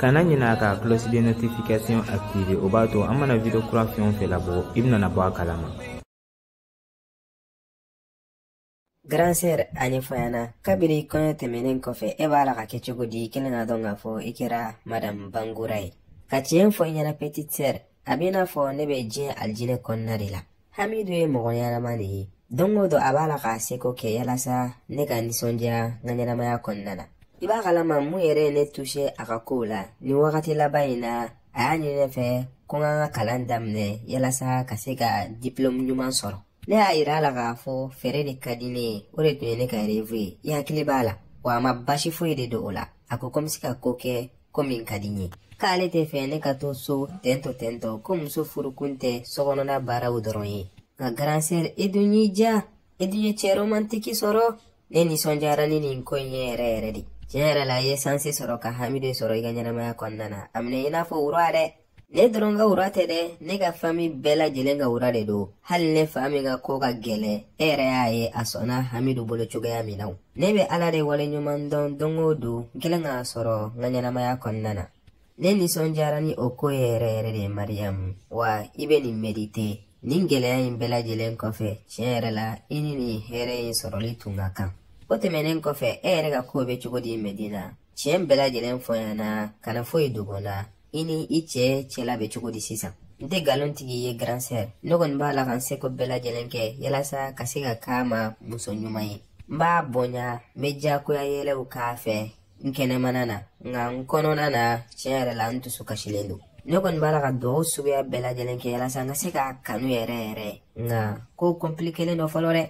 kana ɲina ka cloche de notification activer o b'a to an mana video kura fɛn o fɛn labɔ i bɛna bɔ a kalama Grande sœur a ɲɛfɔ n ɲɛna kabiri kɔɲɔ tɛmɛnen kɔfɛ e b'a la ka kɛ cogo di i kɛlen k'a dɔn k'a fɔ i kɛra madame bangura ye ka tiɲɛ fɔ i ɲɛna petite sœur a b'i n'a fɔ ne bɛ diɲɛ alijinɛ kɔnɔna de la hamidu ye mɔgɔ ɲɛnama de ye don o don a b'a la k'a seko kɛ yalasa ne ka nisɔndiya n ka ɲɛnamaya kɔnɔna na i b'a kalama mun yɛrɛ ye ne tuse a ka kow la nin wagati laban in na a y'a ɲini ne fɛ ko n ka n ka kalan daminɛ yalasa ka se ka diplɔmu ɲuman sɔrɔ ne y'a yira a la k'a fɔ feere de ka di ne ye o de tun ye ne ka rêve ye i hakili b'a la wa a ma basi foyi de don o la a ko ko n bɛ se ka ko kɛ ko min ka di n ye k'ale t'a fɛ ne ka to so ten tɔ ten tɔ ko muso furukun tɛ sokɔnɔna baaraw dɔrɔn ye nka grande sœur i dun y'i ja i dun ye cɛ romantiki sɔrɔ ne nisɔndiyara ni nin ko in ye yɛrɛ yɛrɛ de tiɲɛ yɛrɛ la i ye sansi sɔrɔ ka hamidu sɔrɔ i ka ɲɛnamaya kɔnɔna na a minɛ i n'a fɔ roi dɛ ne dɔrɔn ka roi tɛ dɛ ne ka fami bɛɛ lajɛlen ka roi de don hali ne fa min ka ko ka gɛlɛn e yɛrɛ y'a ye a sɔnna hamidu bolo cogoya min na ne bɛ ala de waleɲuman dɔn don o don n kɛlen k'a sɔrɔ n ka ɲɛnamaya kɔnɔna na ne nisɔndiyara ni o ko ye yɛrɛ yɛrɛ de mariyamu wa i bɛ nin merite nin gɛlɛya in bɛɛ lajɛlen kɔfɛ tiɲɛ yɛrɛ la i ni nin hɛrɛ in sɔrɔli tun ka kan o tɛmɛnen kɔfɛ e yɛrɛ ka kow bɛ cogo di medina tiɲɛ bɛɛ lajɛlen fɔ n ɲɛna kana foyi dogo n na i ni i cɛ cɛla bɛ cogo di sisan n tɛ galon tigɛ i ye grande sœur ne kɔni b'a la ka n seko bɛɛ lajɛlen kɛ yalasa ka se ka k'a ma muso ɲuman ye n b'a bonya n bɛ jagoya yɛlɛw k'a fɛ n kɛnɛmana na nka n kɔnɔna na tiɲɛ yɛrɛ la n dusu kasilen don ne kɔni b'a la ka dugaw suguya bɛɛ lajɛlen kɛ yalasa n ka se k'a kanu yɛrɛ yɛrɛ nka ko kɔnpilikelen don fɔlɔ dɛ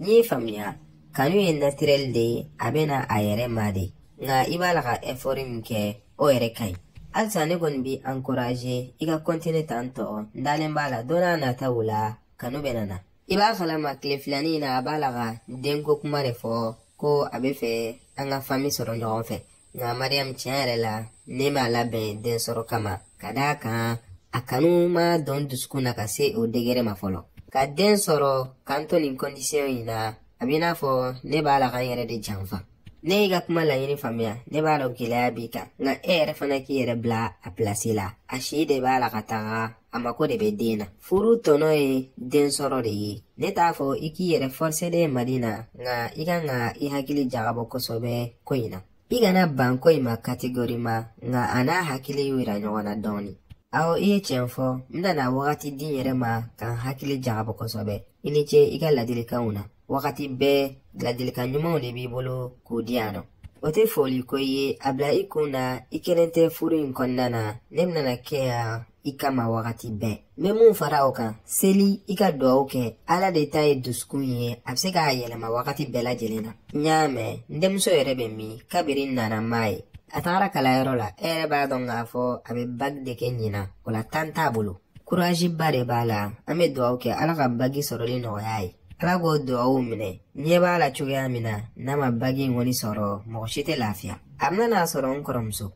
N y'i faamuya kanu ye naturel de ye a bɛ na a yɛrɛ ma de nka i b'a la ka effort min kɛ o yɛrɛ ka ɲi halisa ne kɔni b'i encourager i ka continuer tan tɔ n dalen b'a la don nataw la kanu bɛna na i b'a kalama tile filanin in na a b'a la ka denko kuma de fɔ ko a b'a fɛ an ka fami sɔrɔ ɲɔgɔn fɛ nka mariyamu tiɲɛ yɛrɛ la ne ma labɛn den sɔrɔ kama ka d'a kan a kanu ma don n dusukun na ka se o degere ma fɔlɔ ka den sɔrɔ ka n to nin kɔndisiyɔn in na a b'i n'a fɔ ne b'a la ka n yɛrɛ de janfa ne y'i ka kuma laɲini faamuya ne b'a dɔn gɛlɛya b'i kan nka e yɛrɛ fana k'i yɛrɛ bila a pilasi la a si de b'a la ka taga a mako de bɛ den na furu tɔnɔ ye den sɔrɔ de ye ne t'a fɔ i k'i yɛrɛ fɔrise dɛ medina nka i kan ka i hakili jagabɔ kosɛbɛ ko in na i kana ban ko in ma kategorima nka a n'a hakili yira ɲɔgɔn na dɔɔni awɔ i ye tiɲɛ fɔ n bɛna wagati di n yɛrɛ ma ka n hakili jagabɔ kosɛbɛ i ni ce i ka ladilikanw na wagati bɛɛ ladilikan ɲumanw de b'i bolo k'u di yan nɔ o tɛ foli ko ye a bila i kun na i kelen tɛ furu in kɔnɔna na ne bɛna na kɛ yan i kama wagati bɛɛ n bɛ mun fara o kan seli i ka dugawu kɛ ala de ta ye dusukun ye a bɛ se k'a yɛlɛma wagati bɛɛ lajɛlen na n y'a mɛn n denmuso yɛrɛ bɛ min kabiri n nana n m'a ye a tagara kalanyɔrɔ la e yɛrɛ b'a dɔn k'a fɔ a bɛ baki de kɛ ɲinan o la tan t'a bolo kuraziba de b'a la an bɛ dugawu kɛ ala ka baki sɔrɔli nɔgɔya a ye ala k'o dugawu minɛ n ɲɛ b'a la cogoya min na n'a ma baki in kɔni sɔrɔ mɔgɔ si tɛ lafiya a bɛna n'a sɔrɔ n kɔrɔmuso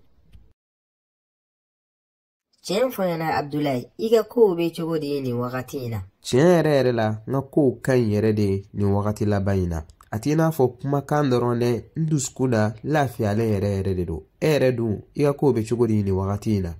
tiɲɛ fɔ n ɲɛna abdulayi i ka kow bɛ cogo di nin wagati in na tiɲɛ yɛrɛ yɛrɛ la n ka kow ka ɲi yɛrɛ de nin wagati laban in na a t'i n'a fɔ kumakan dɔrɔn dɛ n dusukun na lafiyalen yɛrɛ yɛrɛ de don e yɛrɛ dun i ka kow bɛ cogo di nin wagati in na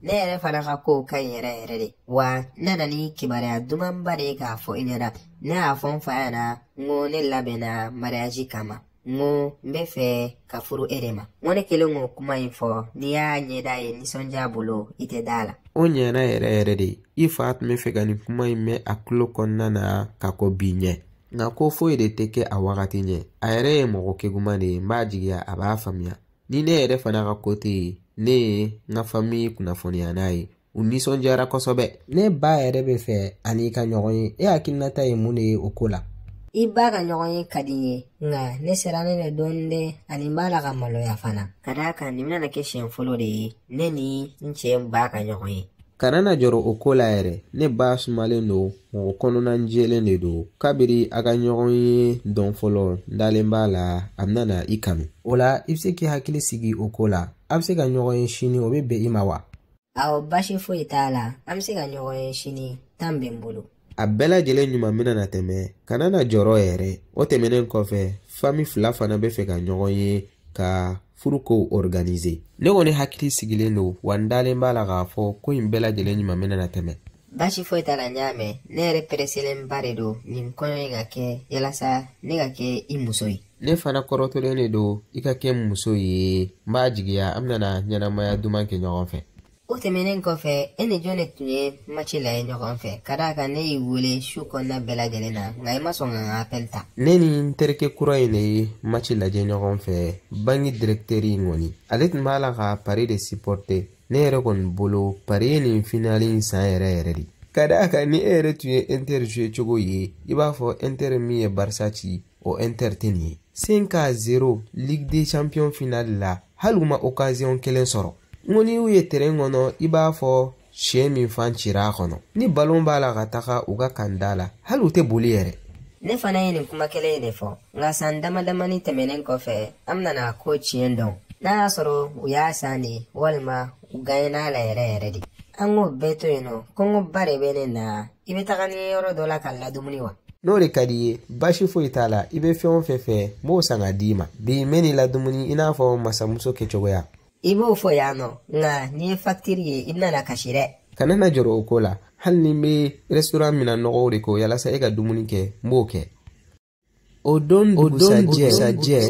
ne yɛrɛ fana ka kow ka ɲi yɛrɛ yɛrɛ de wa n nana ni kibaruya dumanba de ye k'a fɔ i ɲɛna ne y'a fɔ n fa ɲɛna n ko ne labɛnna mariyaji kama n ko n bɛ fɛ ka furu e de ma n ko ne kɛlen k'o kuma in fɔ n'i y'a ɲɛda ye nisɔndiya bolo i tɛ da a la o ɲɛna yɛrɛ yɛrɛ de i fa tun bɛ fɛ ka nin kuma in mɛn a tulo kɔnɔna na ka kɔn bi ɲɛ nka ko foyi de tɛ kɛ a wagati ɲɛ a yɛrɛ ye mɔgɔ keguman de ye n b'a jigiya a b'a faamuya ni ne yɛrɛ fana ka kote ye ne ye n ka famiye kunnafoniya n'a ye u nisɔndiyara kosɛbɛ ne ba yɛrɛ bɛ fɛ a n'i ka ɲɔgɔn ye e hakilinata ye mun de ye o ko la i ba ka ɲɔgɔnye ka di n ye nka ne sirannen don dɔɔnin dɛ ani n b'a la ka maloya fana ka d'a kan nin bɛna na kɛ siɲɛ fɔlɔ de ye ne ni n cɛ ba ka ɲɔgɔn ye kana na jɔrɔ o ko la yɛrɛ ne ba sumalen don mɔgɔ kɔnɔnajɛlen de don kabiri a ka ɲɔgɔnye don fɔlɔ n dalen b'a la a bɛna na i kanu o la i bɛ se k'i hakili sigi o ko la a bɛ se ka ɲɔgɔn ye sini o bɛ bɛn i ma wa awɔ baasi foyi t'a la an bɛ se ka ɲɔgɔn ye sini tan bɛ n bolo a bɛɛ lajɛlen ɲuman bɛna na tɛmɛ kana na jɔrɔ yɛrɛ o tɛmɛnen kɔfɛ fami fila fana bɛ fɛ ka ɲɔgɔn ye ka furukow organise ne kɔni hakili sigilen don wa n dalen b'a la k'a fɔ ko in bɛɛ lajɛlen ɲuman bɛna na tɛmɛ baasi foyi t'a la n y'a mɛn ne yɛrɛ pereselenba de don nin kɔɲɔ in ka kɛ yalasa ne ka kɛ i muso ye ne fana kɔrɔtɔlen de don i ka kɛ n muso ye n b'a jigiya an bɛna na ɲɛnamaya duman kɛ ɲɔgɔn fɛ o tɛmɛnen kɔfɛ e ni jɔn de tun ye maci lajɛ ɲɔgɔn fɛ ka d'a kan ne y'i wele su kɔnɔna bɛɛ lajɛlen na nka i ma sɔn ka n ka apɛli ta ne ni n terikɛ kura in de ye maci lajɛ ɲɔgɔn fɛ banki direkteri in kɔni ale tun b'a la ka pari de sipɔrite ne yɛrɛ kɔni bolo pari ye nin finali in san yɛrɛ yɛrɛ de ka d'a kan ni e yɛrɛ tun ye inter jouer cogo ye i b'a fɔ inter min ye barisa ci o inter tɛ nin ye cinq à zéro ligue des champions finali la hali u ma okaziyɔn kelen sɔrɔ n ko n'i y'u ye teren kɔnɔ i b'a fɔ syɛ min fan cira a kɔnɔ ni balon b'a la ka taga u ka kanda la hali u tɛ boli yɛrɛ ne fana ye nin kuma kelen in de fɔ nka san dama damani tɛmɛnen kɔfɛ an bɛna a ko tiɲɛ dɔn n'a y'a sɔrɔ u y'a san de walima u ganyena a la yɛrɛ yɛrɛ de an k'o bɛɛ to yen nɔ kɔngɔba de bɛ ne na i bɛ taga ni n ye yɔrɔ dɔ la ka n ladumuni wa n'o de ka d'i ye basi foyi t'a la i bɛ fɛn o fɛn fɛ n b'o san ka d'i ma bi n bɛn'i ladumuni i n'a fɔ masamuso kɛcogoya i b'o fɔ yan nɔ nka n'i ye fakitiri ye i bɛna na kasi dɛ kana na jɔrɔ o ko la hali ni n bɛ rɛsitoran minan nɔgɔw de ko yalasa e ka dumuni kɛ n b'o kɛ o don dugusajɛ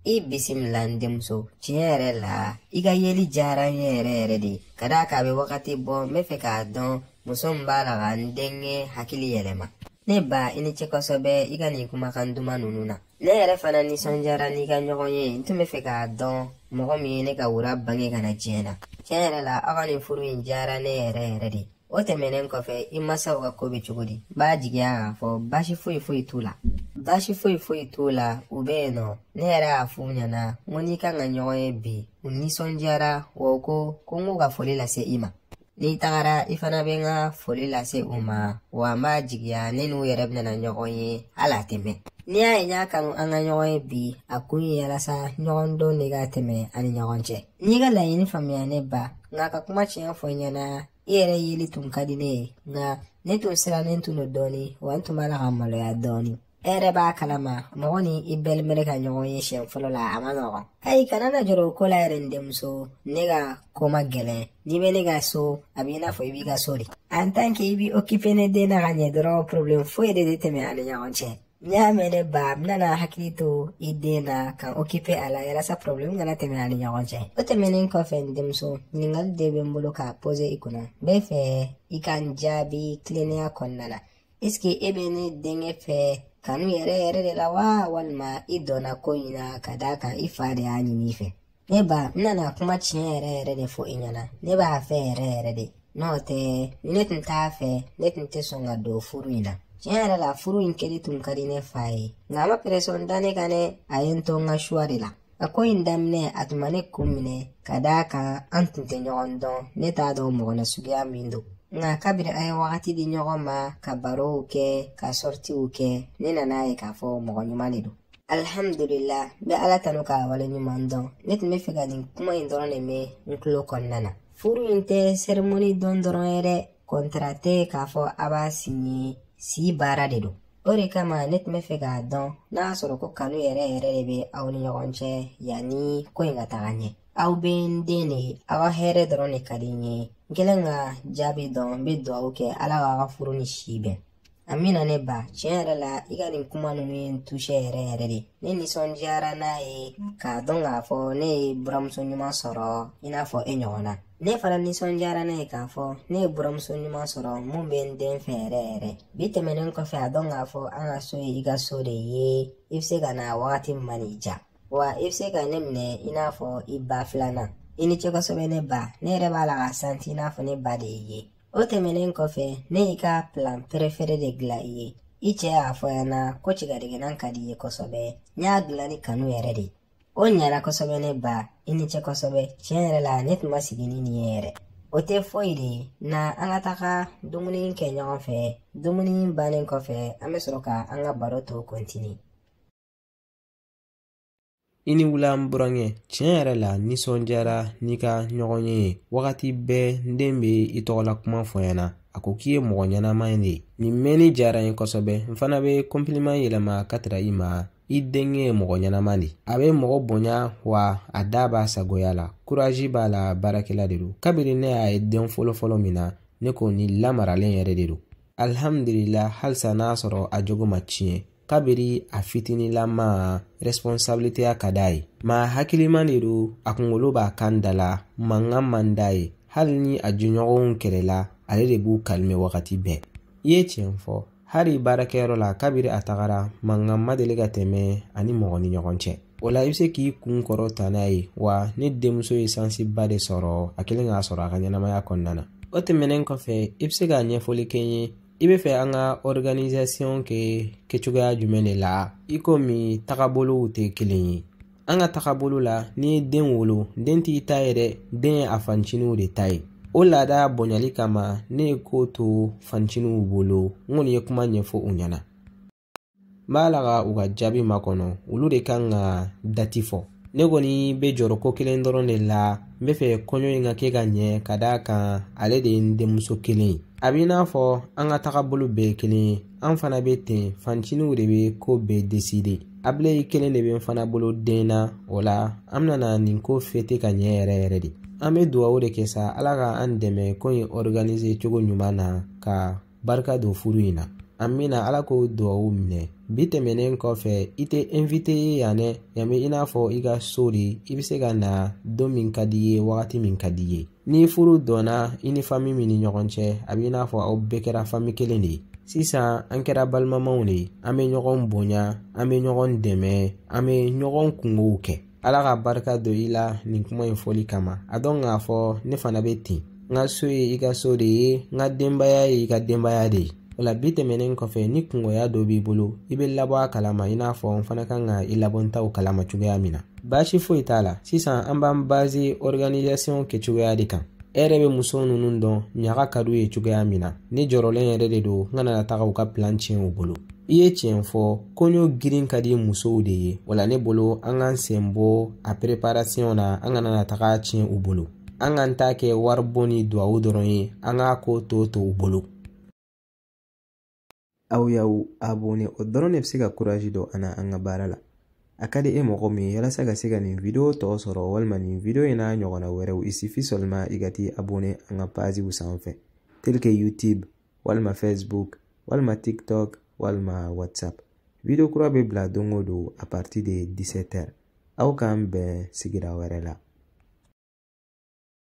I bisimila n denmuso tiɲɛ yɛrɛ la i ka yeli diyara n ye yɛrɛ yɛrɛ de ka d'a kan a bɛ wagati bɔ n bɛ fɛ k'a dɔn muso min b'a la ka n denkɛ hakili yɛlɛma ne ba i ni ce kosɛbɛ i ka nin kumakan duman ninnu na ne yɛrɛ fana nisɔndiyara n'i ka ɲɔgɔn ye n tun bɛ fɛ k'a dɔn mɔgɔ min ye ne ka wura bange ka na diɲɛ na tiɲɛ yɛrɛ la aw ka nin furu in diyara ne yɛrɛ yɛrɛ de o tɛmɛnen kɔfɛ i masaw ka ko bɛ cogo di b'a jigiya k'a fɔ baasi foyi foyi t'u la baasi foyi foyi t'u la u bɛ yen nɔ ne yɛrɛ y'a f'u ɲɛna ko n n'i kan ka ɲɔgɔn ye bi u nisɔndiyara wa u ko ko n k'u ka foli lase i ma n'i tagara i fana bɛ n ka foli lase u ma wa n b'a jigiya ne n'u yɛrɛ bɛna ɲɔgɔn ye hali a tɛ mɛɛn n'i y'a ye n y'a kanu an ka ɲɔgɔn ye bi a kun ye yalasa ɲɔgɔndɔn de ka tɛmɛ an ni ɲɔgɔn cɛ N y'i ka laɲini faamuya ne ba, nka ka kuma tiɲɛ fɔ i ɲɛna, i yɛrɛ yeli tun ka di ne ye, nka ne tun sirannen tun don dɔɔni, wa n tun b'a la ka maloya dɔɔni. E yɛrɛ b'a kalama, mɔgɔ ni i belle-mère ka ɲɔgɔn ye siɲɛ fɔlɔ la, a ma nɔgɔn. Ayi, kana na jɔrɔ o ko la yɛrɛ n denmuso, ne ka ko ma gɛlɛn. N'i bɛ ne ka so, a b'i n'a fɔ i b'i ka so de. En tant que i b'i occuper ne den na ka ɲɛ dɔrɔn, problème foyi de tɛ tɛmɛ an ni ɲɔgɔn cɛ. n y'a mɛn ne ba n bɛna n hakili to i den na ka n okipe a la yalasa porobilɛmu kana tɛmɛ an ni ɲɔgɔn cɛ o tɛmɛnen kɔfɛ n denmuso ɲininkali de bɛ n bolo k'a poze i kunna n bɛ fɛ i ka n jaabi tilennenya kɔnɔna na esike e bɛ ne denkɛ fɛ kanu yɛrɛ yɛrɛ de la wa walima i dɔnna ko in na ka d'a kan i fa de y'a ɲini i fɛ ne ba n nana kuma tiɲɛ yɛrɛ yɛrɛ de fɔ i ɲɛna ne b'a fɛ yɛrɛ yɛrɛ de n'o tɛ ni ne tun t'a fɛ ne tun tɛ sɔn ka don furu in na tiɲɛ yɛrɛ la furu in kɛli tun ka di ne fa ye nka a ma peresɔn da ne kan dɛ a ye n to n ka suwa de la a ko in daminɛ a tun ma ne kun minɛ ka d'a kan an tun tɛ ɲɔgɔn dɔn ne t'a dɔn mɔgɔ nasuguya min don nka kabiri an ye wagati di ɲɔgɔn ma ka barow kɛ ka sɔritiw kɛ ne nan'a ye k'a fɔ mɔgɔ ɲuman de don alhamdulillah n bɛ ala tanu k'a wale ɲuman dɔn ne tun bɛ fɛ ka nin kuma in dɔrɔn de mɛn n tulo kɔnɔna na furu in tɛ sɛrimoni don dɔrɔn ye dɛ kɔntara tɛ k'a fɔ a b'a sinye si baara de don o de kama ne tun bɛ fɛ k'a dɔn n'a y'a sɔrɔ ko kanu yɛrɛ yɛrɛ de bɛ aw ni ɲɔgɔn cɛ yanni ko in ka taga ɲɛ aw bɛɛ n den de ye aw ka hɛrɛ dɔrɔn de ka di n ye n kɛlen ka jaabi dɔn n bɛ dugawu kɛ ala k'a ka furu ni si bɛn amina ne ba tiɲɛ yɛrɛ la i ka nin kuma ninnu ye n tusɛ yɛrɛ yɛrɛ de ne nisɔndiyara n'a ye k'a dɔn k'a fɔ ne ye buramuso ɲuman sɔrɔ i n'a fɔ e ɲɔgɔn na ne fana nisɔndiyara n'a ye k'a fɔ ne ye buramuso ɲuman sɔrɔ min bɛ n den fɛ yɛrɛ yɛrɛ bi tɛmɛnen kɔfɛ a dɔn k'a fɔ an ka so ye i ka so de ye i bɛ se ka na wagati min man'i diya wa i bɛ se ka ne minɛ i n'a fɔ i ba filanan i ni ce kosɛbɛ ne ba ne yɛrɛ b'a la k'a santi i n'a fɔ ne ba de y'i ye o tɛmɛnen kɔfɛ ne y'i ka plat perefere de dilan i ye i cɛ y'a fɔ n ɲɛna ko cigadɛgɛnan ka di i ye kosɛbɛ n y'a dilan ni kanu yɛrɛ de o ɲɛna kosɛbɛ ne ba i ni ce kosɛbɛ tiɲɛ yɛrɛ la ne tun ma sigi ni nin ye yɛrɛ o tɛ foyi de ye na an ka taga dumuni kɛ ɲɔgɔn fɛ dumuni bannen kɔfɛ an bɛ sɔrɔ ka an ka baro tɔ kɔntini i ni wula n burankɛ tiɲɛ yɛrɛ la n nisɔndiyara n'i ka ɲɔgɔnye ye wagati bɛɛ n den bɛ i tɔgɔla kuma fɔ n ɲɛna a ko k'i ye mɔgɔ ɲɛnama de ye nin mɛnni diyara n ye kosɛbɛ n fana bɛ kɔnpiliman yɛlɛma ka taga i ma i denkɛ ye mɔgɔ ɲɛnama de a bɛ mɔgɔ bonya wa a da b'a sagoya la kurazi b'a la baarakɛla de don kabiri ne y'a ye don fɔlɔfɔlɔ min na ne ko nin lamaralen yɛrɛ de don alihamudulila halisa n'a sɔrɔ a jogo ma tiɲɛ kabiri a fitininlama responsabiliteya ka d'a ye maa hakiliman de don a kunkolo b'a kan da la mankan man d'a ye hali ni a jɔnɲɔgɔnw kɛlɛla ale de b'u kalime wagati bɛɛ i ye tiɲɛ fɔ hali baarakɛyɔrɔ la kabiri a tagara mankan ma deli ka tɛmɛ a ni mɔgɔ ni ɲɔgɔn cɛ o la i bɛ se k'i kun kɔrɔta n'a ye wa ne denmuso ye sansiba de sɔrɔ a kɛlen k'a sɔrɔ a ka ɲɛnamaya kɔnɔna na o tɛmɛnen kɔfɛ i bɛ se ka ɲɛfɔli kɛ n ye i bɛ fɛ an ka organisation kɛ kɛcogoya jumɛn de la i komi tagabolow tɛ kelen ye an ka tagabolo la n'i ye den wolo den t'i ta ye dɛ den ye a fanciniw de ta ye o laada bonyali kama ne ye ko to fanciniw bolo n kɔni ye kuma ɲɛfɔ u ɲɛna n b'a la ka u ka jaabi makɔnɔ olu de kan ka dati fɔ ne kɔni bɛ jɔrɔ ko kelen dɔrɔn de la n bɛ fɛ kɔɲɔ in ka kɛ ka ɲɛ ka d'a kan ale de ye n denmuso kelen ye a b'i n'a fɔ an ka tagabolo bɛɛ ye kelen ye an fana bɛ ten fanciniw de bɛ ko bɛɛ deside abile kelen de bɛ n fana bolo den na o la an bɛna na nin ko fete ka ɲɛ yɛrɛ yɛrɛ de an bɛ dugawu de kɛ sa ala ka an dɛmɛ ko in ɔriganise cogo ɲuman na ka barika don furu in na amiina ala k'o dugawu minɛ bi tɛmɛnen kɔfɛ i tɛ invite ye yan dɛ yan bɛ i n'a fɔ i ka so de i bɛ se ka na don min ka di i ye wagati min ka di i ye ni furu donna i ni fami min ni ɲɔgɔn cɛ a bɛ i n'a fɔ aw bɛɛ kɛra fami kelen de ye sisan an kɛra balimamaw de ye an bɛ ɲɔgɔn bonya an bɛ ɲɔgɔn dɛmɛ an bɛ ɲɔgɔn kungow kɛ ala ka barika don i la nin kuma in fɔli kama a dɔn k'a fɔ ne fana bɛ ten n ka so ye i ka so de ye n ka denbaya ye i ka denbaya de ye o la bi tɛmɛnen kɔfɛ ni kungoya dɔ b'i bolo i bɛ n labɔ a kalama i n'a fɔ n fana kan ka i labɔ n taw kalama cogoya min na baasi foyi t'a la sisan an b'an baze organisation kɛcogoya de kan e yɛrɛ bɛ muso ninnu dɔn ɲaga ka d'u ye cogoya min na ne jɔrɔlen yɛrɛ de don n kana na taga u ka pilan tiɲɛ u bolo i ye tiɲɛ fɔ kɔɲɔ girin ka di musow de ye wala ne bolo an k'an sen bɔ a pereparasiyɔn na an kana na taga tiɲɛ u bolo an k'an ta kɛ wari bɔ ni duwawu dɔrɔn ye an k'a ko tɔ to u bolo aw y'aw abone o dɔrɔn de bɛ se ka kurazi don an na an ka baara la a ka di e mɔgɔ min ye yalasa ka se ka nin video tɔ sɔrɔ walima nin video in n'a ɲɔgɔnna wɛrɛw il suffit seulement i ka t'i abone an ka paziw sanfɛ tel que youtube walima facebook walima tiktok walima whatsapp video kura bɛ bila don o don a partir de 17 heures aw k'an bɛn sigira wɛrɛ la